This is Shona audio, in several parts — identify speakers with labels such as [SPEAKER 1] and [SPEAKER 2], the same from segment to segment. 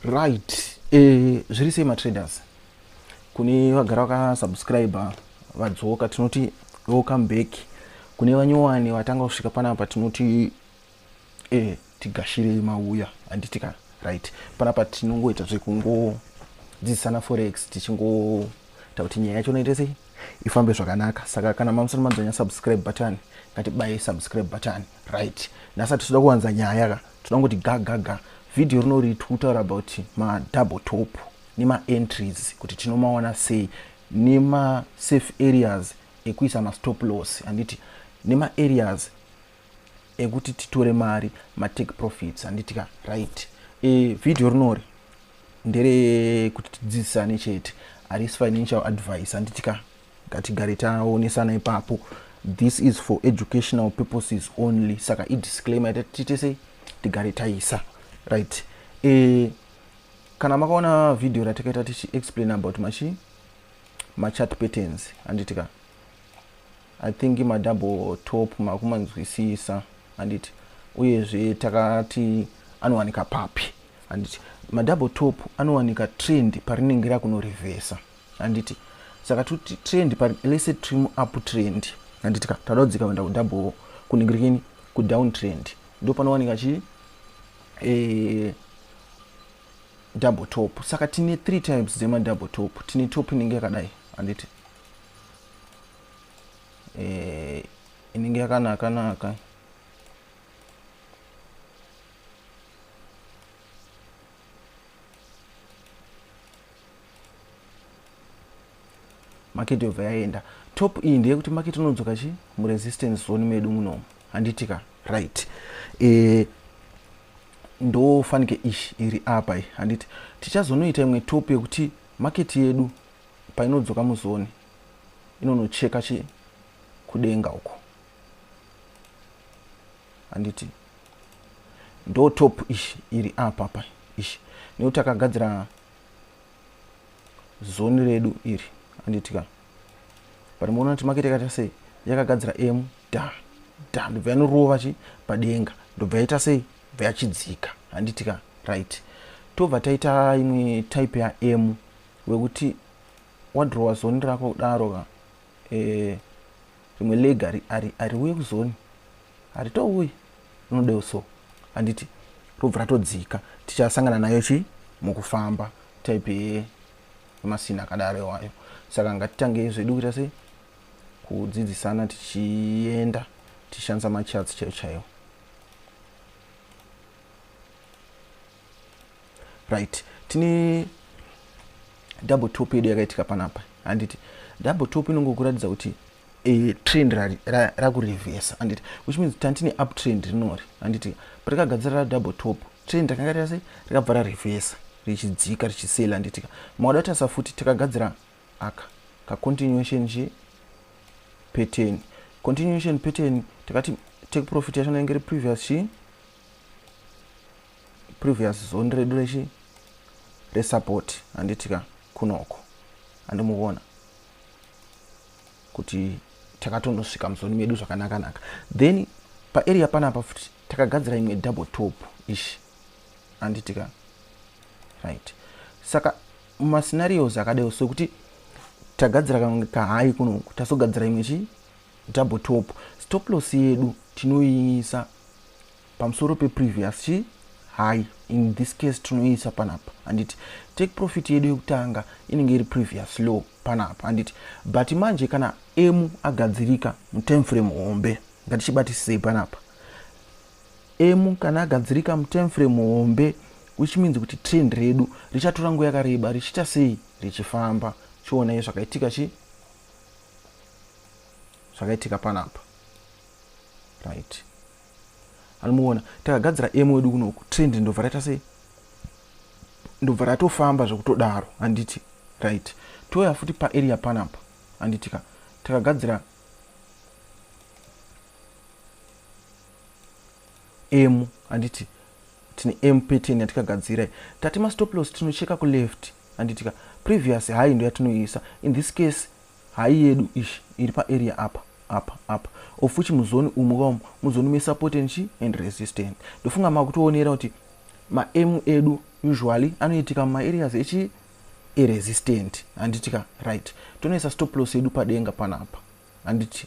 [SPEAKER 1] right eh, zviri sei matraders kune vagara vakasubscribe vadzoka tinoti welcome back kune vanyowani vatanga kusvika panapa tinoti eh, tigashire mauya handitika right panapa tinongoita zvekungodzidzisana forex tichingoita kuti nyaya yacho noite sei ifambe zvakanaka saka kana mamusana madzanya subscribe button ngatibaye subscribe button right nhasi hatitoda kuwanza nyaya ka toda kungoti ga ga ga vhidhiyo rinori tikutaura about madouble top nemaentries kuti tinomawana sei nemasafe areas ekuisa mastop loss handiti nemaareas ekuti titore mari matake profits handiti ka right e, vhidhiyo rinori nderekuti tidzidzisane chete harisi financial advice handiti ka ngatigare taonesana ipapo this is for educational purposes only saka idisclaimer yatati tese tigare taisa right e, kana makaona video ratakaita tichi explain about machi machat patterns handiti ka i think madouble top makumanzwisisa handiti uyezve takati anowanika papi handiti madouble top anowanika trend parinenge rakunorevhesa handiti saka tuti trend pari lese tiri muup trend handiti ka tauda kudzika kuenda kudouble kunenge rikini kudown trend ndo panowanika chii e, double top saka tine three types dzemadouble top tine top inenge yakadai handiti e, inenge yakanakanaka market yobva yaenda top iyi ndeyekuti market unodzoka chi muresistance zone medu munomu handitika right e, ndofanike ish iri apa iyi handiti tichazonoita imwe top yekuti market yedu painodzoka muzone inonocheka chi kudenga uko handiti ndo top ish iri apa pa ish nekuti takagadzira zoni redu iri anditika but muona kuti makete yakaita sei yakagadzira m da da ndobva yanorova chi padenga ndobva yaita sei bva yachidzika handitika right tobva taita imwe type ya m wekuti wadrowa zoni rako kudaro ka eh, rimwe leg hariuye kuzoni haritouye rinodeo so handiti robva ratodzika tichasangana nayo chii mukufamba type ye masina akadaro iwayo saka ngatitange zvedu kuita sei kudzidzisana tichienda tichishandisa machats chaiyo chaiyo right tine double top yedu yakaitika panapa handiti double top inongokuratidza kuti e, trend rakurevesa handiti which means tantine up trend rinori handiti patakagadzira ra double top trend rakanga rase rakabva rarevesa richidzika richisela handitika maoda tasa futi takagadzira aka kacontinuation che pattern continuation pattern takati take profit yacho nainge ri previous chi previous zone redu rechi resupport handitika kunoko andimuvona kuti takatonosvika muzoni medu zvakanakanaka then paarea panapa futi takagadzira imwe double top ishi anditika right saka mascenarios akadeo sokuti tagadzira kamwe kahai kunoku tazogadzira imwe chi double top stop loss yedu tinoiisa pamusoro peprevious chii hai in this case tinoisa panapa handiti take profit yedu yekutanga inenge iri previous low panapa handiti but manje kana emu agadzirika mutime frame hombe ngatichibatisisei panapa emu kana agadzirika mutime frame hombe which means kuti trend redu richatora nguva yakareba richiita sei richifamba chionai zvakaitika chi zvakaitika panapa right anomuona takagadzira emu wedu kunoku trend ndobva raita sei ndobva ratofamba zvekutodaro handiti right touya futi paarea panapa handiti ka takagadzira emu handiti tine emu pattern yatikagadzira i tati mastoplos tinocheka kuleft handiti ka previous high ndo yatinoisa in this case Hayi yedu ish iri pa area apa apa apa ofuchi muzoni umu ka umu muzoni me support and chi and resistance ndofunga makutoonera kuti ma m edu usually anoitika muma areas echi iresistant handiti ka right tonoisa stop loss yedu padenga panapa handiti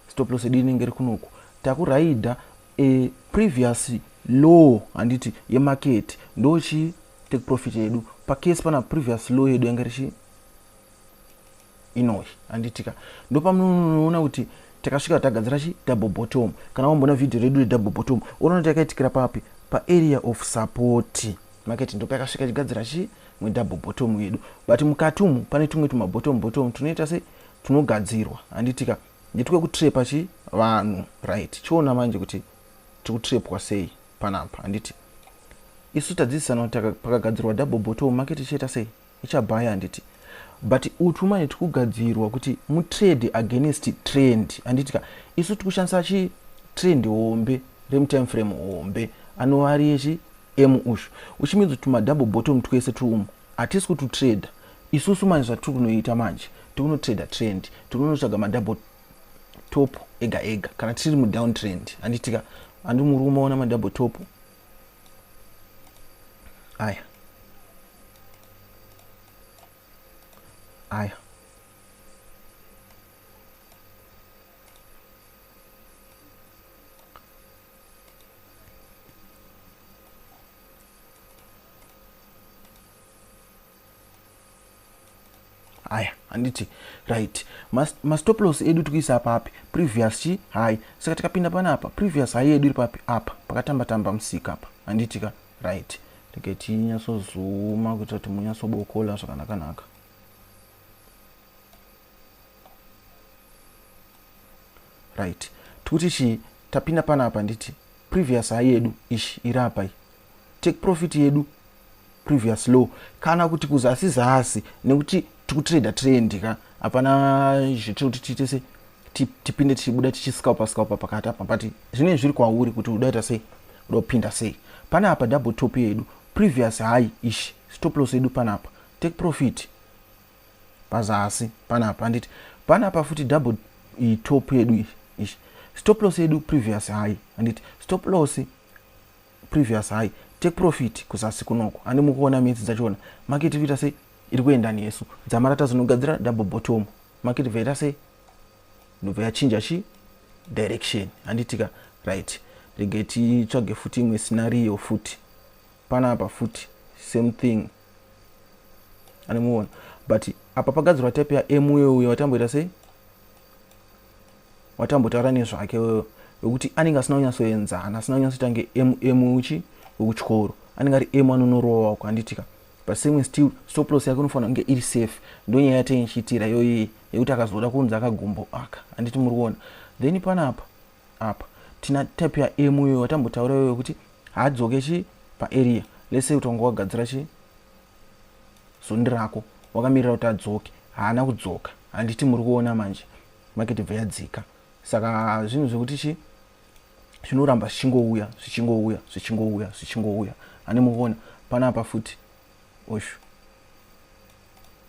[SPEAKER 1] stop loss yedu inenge iri kunoku takuraida e previous low handiti yemaketi ndochi take profit yedu pacase pana previous low yedu yanga richi inoyi handitika ndopamunoona kuti takasvika tagadzira chi double bottom kana wamboona vhidhiyo redu redouble bottom unoona kuti yakaitikira papi paarea of support makati ndo pakasvika chigadzira chi mwe double bottom yedu but mukati umu pane tumwe tuma bottom bottom tunoita se tunogadzirwa handitika nditwe kutrepa chi vanhu right chiona manje kuti tikutrepwa sei panapa handiti isu tadzidzisana kuti pakagadzirwa double bottom makati chiita sei ichabaya handiti but utwu manje tikugadzirwa kuti mutrade against trend handiti ka isu tikushandisa chi trend hombe remutime frame hombe anova ari yechi emu ushu which means kuti madouble bottom twese twumu hatisi kututrader isusu manje zvatiri kunoita manje tikunotrader trend tikunotsvaga madouble top ega ega kana tiri mudown trend handitika handi muri kumaona madouble top aya aya haya handiti right mastoplos edu tikuisa papi previous chi hai saka tikapinda pana apa previous hai yedu iri papi apa pakatamba tamba musika apa handiti ka right rege tinyatsozuma kuitira kuti munyatsobokola zvakanakanaka right tikuti chii tapinda pana apa nditi previous hai yedu ishi iri apa iyi take profit yedu previous low kana kuti kuzasi zasi nekuti tikutrader trend ka hapana zvitiri kuti tiite se tipinde tichibuda tichiscalpa scalpa pakati apa but zvinenge zviri kwauri kuti udaita sei uda kupinda sei pane apa double top yedu previous high ish stop loss yedu panapa take profit pazasi panapa handiti panapa futi double top yedu ish stop loss yedu previous high handiti stop loss previous high take profit kuzasi kunoko handi mukuona midzi dzachona market iri kuita sei iri kuenda nesu dzamara tazonogadzira double bottom market bva ita sei ndobva yachinja chi direction handitika right regai titsvage futi imwe scenario futi panapa futi same thing anomuona but apa pagadzirwa type yamweuyo watamboita sei watambotaura nezvake wewe wekuti anenge asina kunyatsoenzana asina kunyatsoita nge mm uchi wekutyoro anenge ari m anonorowa wako handitika but same still stoplos yake unofanira kunge iri safe ndonyaya yatenge chiitira yoyii yekuti akazoda kunzi akagumbo aka handiti muri kuona then panapa apa tina type ya m uyo watambotaura iwe wekuti haadzoke chi paarea let's say kuti wanga wagadzira chi zondi rako wakamirira kuti adzoke haana kudzoka handiti muri kuona manje market bva yadzika saka zvinhu zvekuti chi zvinoramba zvichingouya zvichingouya zvichingouya zvichingouya ane mukuona panapa futi oshu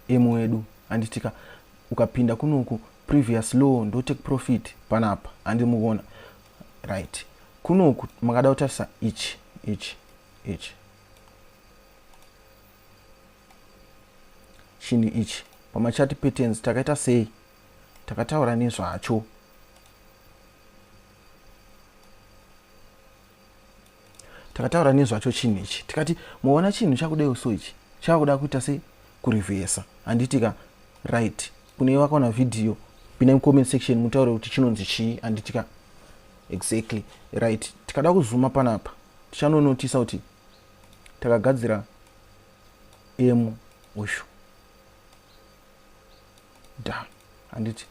[SPEAKER 1] emu wedu handitika ukapinda kunoku previous law ndo take profit panapa handi muvona right kunoku makada kutarisa ichi ichi ichi chinhu ichi pamachati patterns takaita sei takataura nezvacho takataura nezvacho chinhu ichi tikati muona chinhu chakudai so ichi chakuda kuita se kurevhesa handiti ka right kune vakaona vhidhiyo pina mucomment section mutaure kuti chinonzi chii handiti ka exactly right tikada kuzuma panapa tichanonotisa kuti takagadzira m ushu da handiti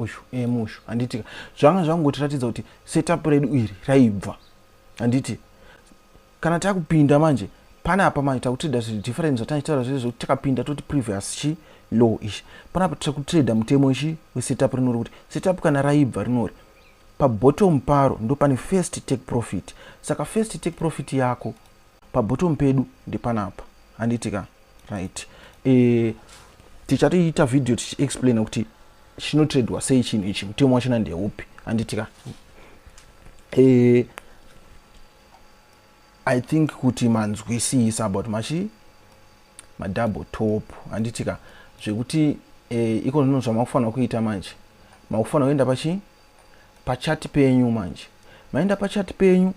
[SPEAKER 1] uyu em uyu handiti zvanga zvangotiratidza kuti setup redu iri raibva handiti kana takupinda manje pane apa manje takutrada zvinhu different zvataichitaura zvese zvekuti takapinda toti previous chi low ichi panapa tiri kutrada mutemo ichi wesetup rinori kuti setup kana raibva rinori Pabottom paro ndopane first take profit saka first take profit yako pabottom pedu ndepanapa handiti ka right e, tichatoita video tichiexplaina kuti chinotradwa sei chinhu ichi mutemo wachina ndeupi handiti ka e, i think kuti manzwisisa about machi madouble top handiti ka zvekuti eh, iko zvino zvamakufanira kuita manje makufanira kuenda pachii pachati penyu manje maenda pachati penyu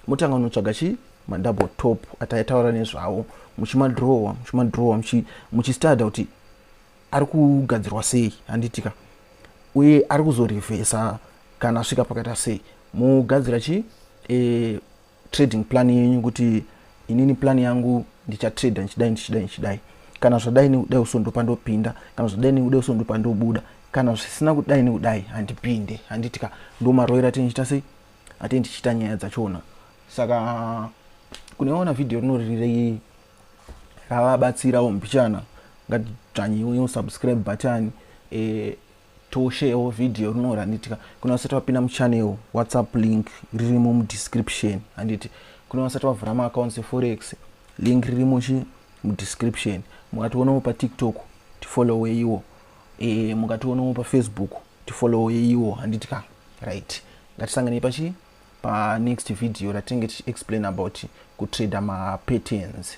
[SPEAKER 1] motanga unotsvaga chii madouble top ataitaura nezvawo muchimadrowa muchimadrowa muchistadha kuti ari kugadzirwa sei handiti ka uye ari kuzorevhesa kana asvika pakaita sei mogadzira chii e, trading plan yenyu kuti inini plan yangu ndichatrader ndichidai ndichidai ndichidai kana zvadai nekudai uso ndopa ndopinda kana zvadai nekudai uso ndopa ndobuda kana zvisina kudai nekudai handipinde handiti ka ndomaroira ati ndichita sei ati ndichita nyaya dzachona saka kuneona vhidhiyo rinorirei ravabatsirawo mbichana ngatidzvanyiwe subscribe button e, tosheyawo video rinori handiti ka kuna vasati vapinda muchannel whatsapp link ririmo mudescription handiti kuna vasati vavhura maaccounts eforex link ririmo chi mudescription mukationawo patiktok tifolloweiwo e, eh, mukationawo pafacebook tifolloweiwo handiti ka right ngatisanganei pachi panext video ratinenge tichiexplain about kutrader mapatterns